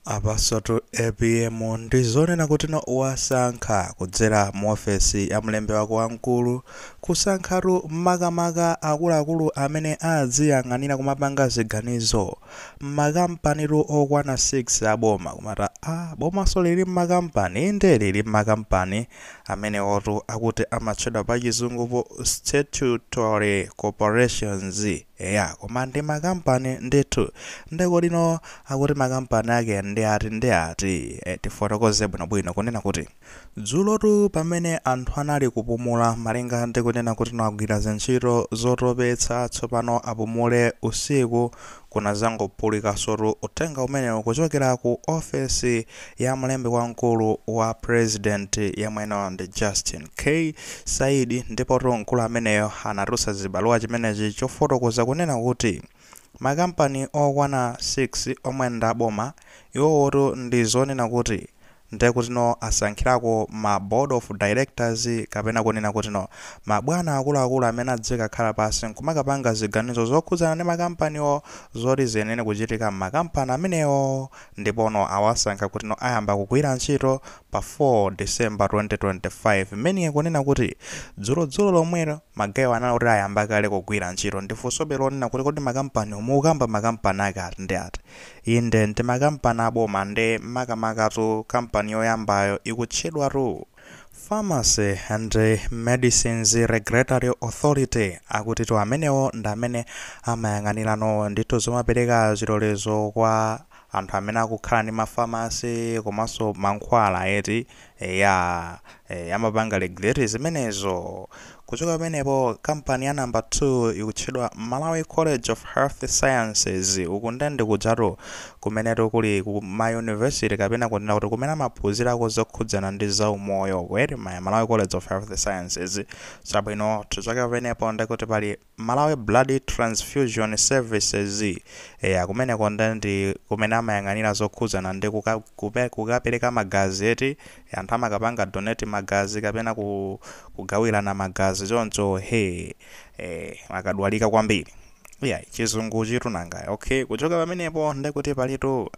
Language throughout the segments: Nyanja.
Apansotu apm ndi zonena kutino wasankha kudzera mu ofesi ya mlembi wake wamkulu kusankhatu makamaka akuluakulu amene adziyang'anira kumapanga ziganizo m'makampanitu okwana 6 aboma komatu bomanso lili m'makampani inde lili m'makampani amenewotu akuti amatchedwa pachizungupo statutory corporations Eya koma ndi makampani ndithu. Nde kodino akuti makampani ake ndi ati ndi ati? Eh tifotokoze bwinobwino kunena kuti dzulotu pamene anthu anali kupumula malinga ndi kunena kutino agwira zintchito zotopetsa tsopano apumule usiku kunadzangophulikansotu uthenga umenewu kuchokera ku ofesi ya mlembi wamkulu wa president yemwenso ndi Justin K. Saidi ndipotu mkulu ameneyo anatulutsa chibaluwa chimenechi chofotokoza kunena kuti makampani okwana 6 omwe ndi aboma iwowotu ndi zonena kuti ndekutino asankhirako ma board of directors kapena kunena kutino mabwana akuluakulu amene adzikakhala pansi nkumakapanga ziganizo zokhudzana ndi makampaniwo zoti ziyenere kuchitika m'makampani amenewo ndipono awasankha kutino ayamba kugwira ntchito pa 4 December 2025 meaning kunena kuti dzulo dzulo lomwero magayewa anali oti ayamba kale kugwira ntchito ndiye funsobe lonena kuti kodi makampaniwo mukukamba makampani ake ati ndi ati inde ndi makampani aboma nde makamakatu kampani yoyambayo ikutchedwatu Pharmacy and Medicines Regulatory Authority akutitu amenewo ndi amene amayang'anirano ndithu zomapereka zilolezo kwa anthu amene akukhala ndi mafamasi komanso mankhwala eti eya e, amapanga regulate zimenezo Kuchoka pamenepo, kampani ya number 2 ikutchedwa Malawi College of Health Sciences, uku nde ndi kujatu kumenetu kuli ku ma university kapena kunena kuti kumene amaphunzirako zokhudzana ndi za umoyo eti, Malawi College of Health Sciences. Chabwino, tichoke pamenepo nde kuti pali Malawi Blood Transfusion Services, eya kumeneko nde ndi kumene amayang'anira zokhudzana ndi kuka, kupe, kukapereka magazi eti, anthu amakapanga donate magazi kapena ku kugawilana magazi choncho he eh akadwala kwambiri iyayi chizunguchitu nanga okay kuchoka pamenepo ndekuti palitu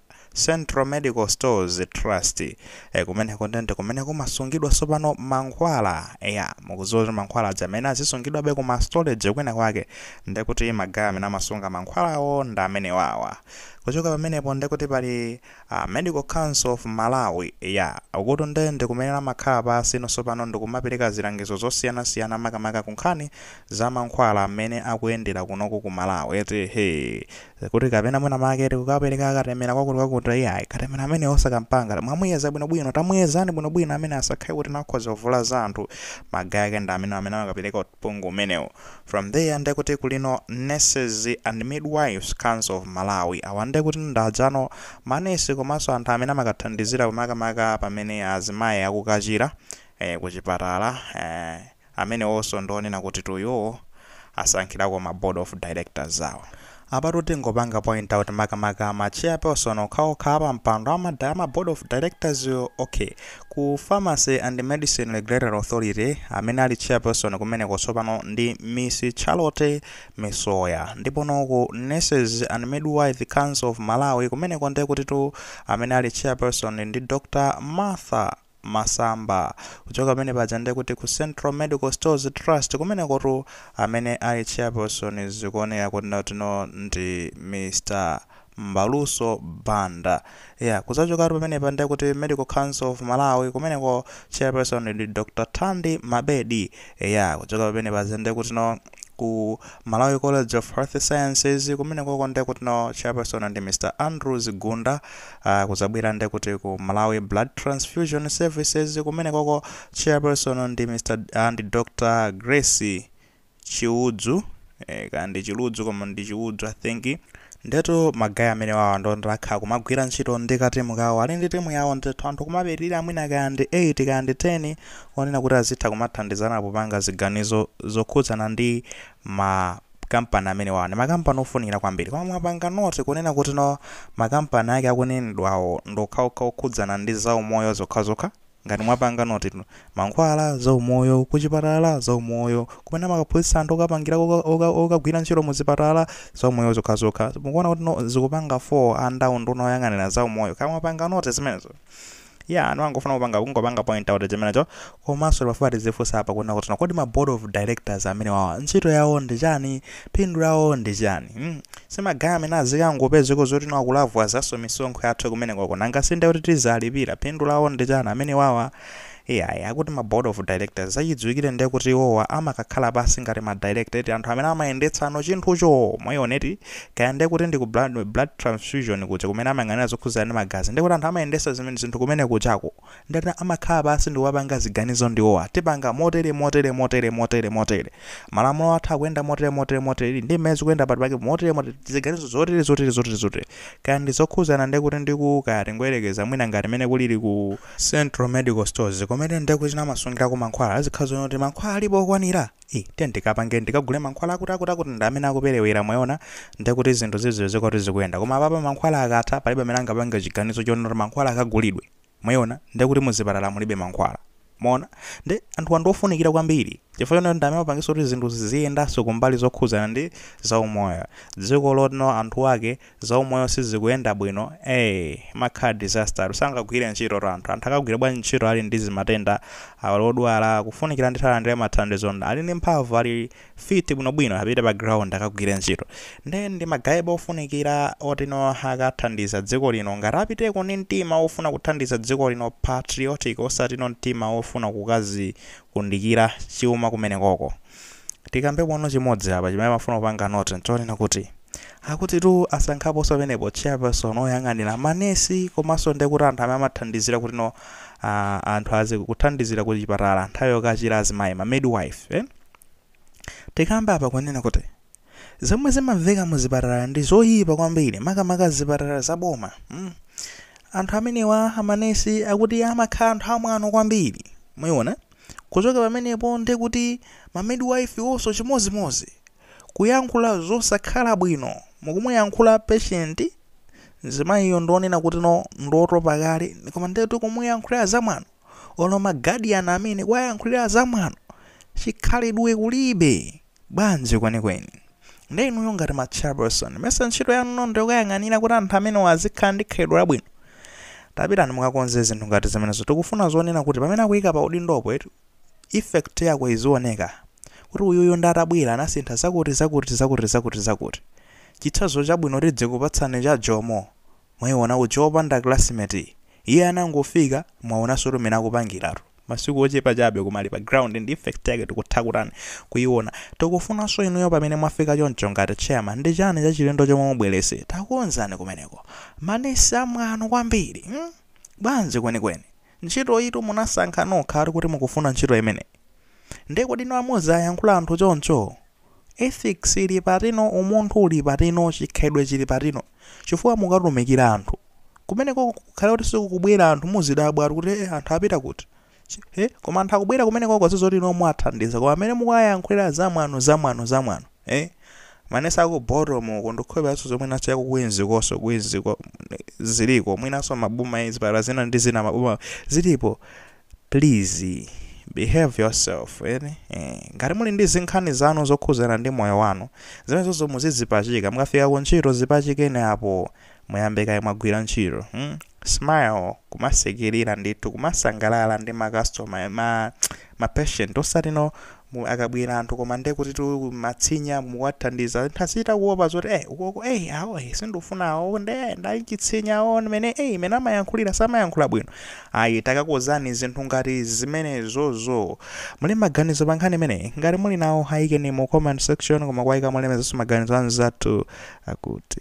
central medical stores trust eh, kumeneko ndende kumene kumasungidwa tsopano mankhwala eya mukudziwa kuti mankhwala aja amene azisungidwabe ku mastorage kwina kwake ndekuti magaya amene amasunga mankhwalawo ndi amenewawa kuchoka pamenepo ndekuti pali A Medical Council of Malawi, ya, uku ndiye ndi kumene amakhala pansi ino tsopano ndikumapereka zilangizo zosiyana siyana makamaka ku nkhani za mankhwala mmene akuyendera kunoku ku Malawi eti hee kuti kapena mwina make eti kukapereka katemera kwakuti kwakuti iyayi katemera ameneyo musanakapange mwamuyeza bwino bwino tamuyezani bwino bwino amene asakhale kuti nakhoza kuvulaza anthu magaye ake ndi amenewo amene amakapereka Uphungu umenewu. From there nde kuti kulino Nurses and Midwives Council of Malawi. Awa nde kuti ndi anzanu ma nurse komanso anthu amene amakathandizira pa makamaka pamene azimayi akukachira eh ku chipatala eh amenewonso ndi onena kutitu iwowo asankhirako ma board of directors awo. Apatu tingopanga point out makamaka ma chairperson okhaokha apampando ama ama board of directors wo ok ku Pharmacy and Medicine Regulatory Authority amene ali chairperson kumeneko tsopano ndi Miss Charlotte Misoya ndipo no ku Nurses and Midwife Council of Malawi kumeneko ndekutitu amene ali chairperson ndi Dr Martha masamba. Kuchoka pamene paja ndiye kuti ku Central Medical Stores Trust kumenekotu amene ali chairperson zikuoneka kuti nde kuti no ndi Mr. Mbaluso Banda. Yeah, kudzachokatu pamenepa ndiye kuti Medical Council of Malawi kumeneko chairperson ndi Dr. Thandi Mabedi. Eya, kuchoka pamene paja ndiye kutino. ku malawi college of health sciences kumeneko nde kuti no chairperson ndi mr andrews gunda uh, kuzabwera nde kuti ku malawi blood transfusion services kumeneko chairperson ndi mr ndi dr grace chiudzu eh, kaya ndi chiludzu koma ndi chiudzu i think ndetu magaye amenewawa ndi oti akhala kumagwira ntchito ndi katimu kawo ali ndi timu yawo ndithu anthu kumapitirira mwina kaya ndi 8 kaya ndi 10 onena kuti azitha kumathandizana popanga ziganizo zokhudzana ndi ma kampani amenewa ndi makampani ofunikira kwambiri koma mwapanga notice kunena kuti no makampani ake akunenedwawo ndokhaokha okhudzana ndi zaumoyo zokhazokha ngati mwapanga notice no, mankhwala zaumoyo kuchipatala zaumoyo kumene amakaphunzitsa anthu okapangira oka- oka- okagwira ntchito mu zipatala zaumoyo zokhazokha mukuona kuti no zikupanga fall under nduna oyang'anira zaumoyo kaya mwapanga notice zimenezo yeah anthu angofuna kupanga kungopanga point out chimenecho komanso pafupi tizifunsa apa kunena kuti kodi ma board of directors amenewawa ntchito yawo ndi chani phindu lawo ndi chani mm. si magaye amene azikangopezeko zoti no akulavulazanso misonkho yathu kumeneko nanga sinde kuti tizalipira phindu lawo ndi chani amenewawa iyayi akuti ma board of directors mwachidziwikire ndiye kuti iwowa amakakhala pansi ngati ma director eti anthu amene amayendetsano chinthucho mwaona eti Kaya ndiye kuti ndi ku blood, blood transfusion kujako kumene amayang'anira zokhudzana ndi magazi ndiye kuti anthu amayendesa zimene zinthu kumene kujako ndiye amakhala pansi ndi kupanga ziganizo ndi iwowa tipanga motere motere motere motere motere malamulo athu akuyenda motere motere motere ili ndi mmene zikuyenda budget yake motere motere ziganizo zotere zotere zotere zotere kaya ndi zokhudzana ndiye kuti ndi ku kaya tingoyerekeza mwina ngati mene kulili ku Central Medical Stores kumene ndiye kuti amasungirako mankhwala azikhala zonena kuti mankhwala alipo okwanira ii tiyeni tikapange tikagule mankhwala akuti akuti akuti ndi amene akuperewera mwaona ndekuti zinthu zizioneka kuti zikuyenda koma apapa mankhwala akatha palibe amene angapange chiganizo chonena kuti mankhwala akagulidwe mwaona ndekuti muzipatala mulibe mankhwala mwaona ndi anthu ndi ofunikira kwambiri chifukwa chonena ndi amene amapangisa kuti zinthu ziziyendanso kumbali zokhudzana ndi zaumoyo dziko lotino anthu ake zaumoyo sizikuyenda bwino ee imakhala disaster tu sangagwire ntchito tu anthu anthu akagwira bwanji ntchito ali ndi zimatenda ali odwala akufunikira ndithu alandira mathandizo ali ndi mphamvu ali fit bwinobwino apite pa ground akagwire ntchito nde ndi magayebo ofunikira oti no akathandiza dziko lino ngati apiteko ndi mtima wofuna kuthandiza dziko lino patriotic osati no mtima wofuna kukazi kundikira chuma kumenekoko. Tikambe pano chimodzi apa chimene amafuna kupanga note nchonena kuti akutitu asankhaponso pamenepo chairperson woyang'anira manesi komanso ndiye kuti anthu amene amathandizira kuti no anthu azi kuthandizira ku chipatala nthawi yokachira azimayi ma midwife eh? Tikambe apa kunena kuti zomwe zimamveka mu zipatala ndi zoyipa kwambiri makamaka zipatala za boma mm. anthu amenewa amanesi akuti amakhala anthu amwano kwambiri mwaiona kuchoka pamenepo ndi kuti ma midwife onso chimozimozi kuyankhula zosakhala bwino mukumuyankhula patient mzimayiyo ndionena kuti no ndiotopa kale koma ndetu kumuyankhulira zamwano olo ma guardian amene kuwayankhulira zamwano chikhalidwe kulibe bwanji kwenikweni nde inuyo ngati ma chairperson mesa ntchito yanu ndi yokayang'anira kuti anthu amenewa azikhala ndi khalidwe labwino tapitani mukakonze zinthu ngati zimenezo tikufuna zonena kuti pamene akuyika pa udindopo eti effect yako izioneka kuti uyuyu ndi atabwera anasintha zakuti zakuti zakuti zakuti zakuti chitsanzo chabwino tidzikupatsani cha Jomo Mwaiona ku Chaponda classmate Iye anangofika, mwaonansotu mmene akupangiratu. Masiku ochepa chabe koma ali pa ground ndi effect yake tikutha kutani, kuiona. Tikufunanso inuyo pamene mwafika choncho ngati chairman ndi chani chachilendo chomwe mubweretse? Takonzani kumeneko. Ma nurse a mwano kwambiri mm? Bwanji kwenikweni? Ntchitoyitu munasankha nokhatu kuti mukufuna ntchito imeneyi. Nde kodi inu mumaziyankhula anthu choncho? Ethics ili patino, umunthu uli patino, chikhalidwe chili patino. Chifukwa mukatumikira anthu, kumenekoko kukhale kuti sikukubwera anthu muzidabwa kuti eh anthu apita kuti? Chi eh koma anthu akubwera kumenekoko zizoti inu muwathandiza koma mmene mukuwayankhulira zamwano zamwano zamwano eh manesi aku Bottom uko ndikhulupiranso zomwe naso yaku Queens konso Queens ko ziliko mwinanso maboma zipatala zina ndi zina maboma zilipo please behave yourself eti eh, ngati muli ndi zinkhani zanu zokhuzana ndi moyo wanu zimenezozo muzizipachika mukafika ku ntchito zipachikeni apo muyambe kaye mwagwira ntchito hmm? smile kumasekerera ndithu kumasangalala ndi makastoma ma, ma patient osatino mu akabwera anthu koma nde kuti tumatsinya muwathandiza anthu azichita kuopa zoti eh ukoko eh awo eh sindufuna awo nde eh, nda chitsinya awo mene eh mene amayankhulira samayankhula bwino ayi takakonzani zinthu ngati zimenezozo muli maganizo pa nkhani imeneyi ngati muli nawo ayikeni mu comment section koma kuyika mulemekezenso maganizo anzathu akuti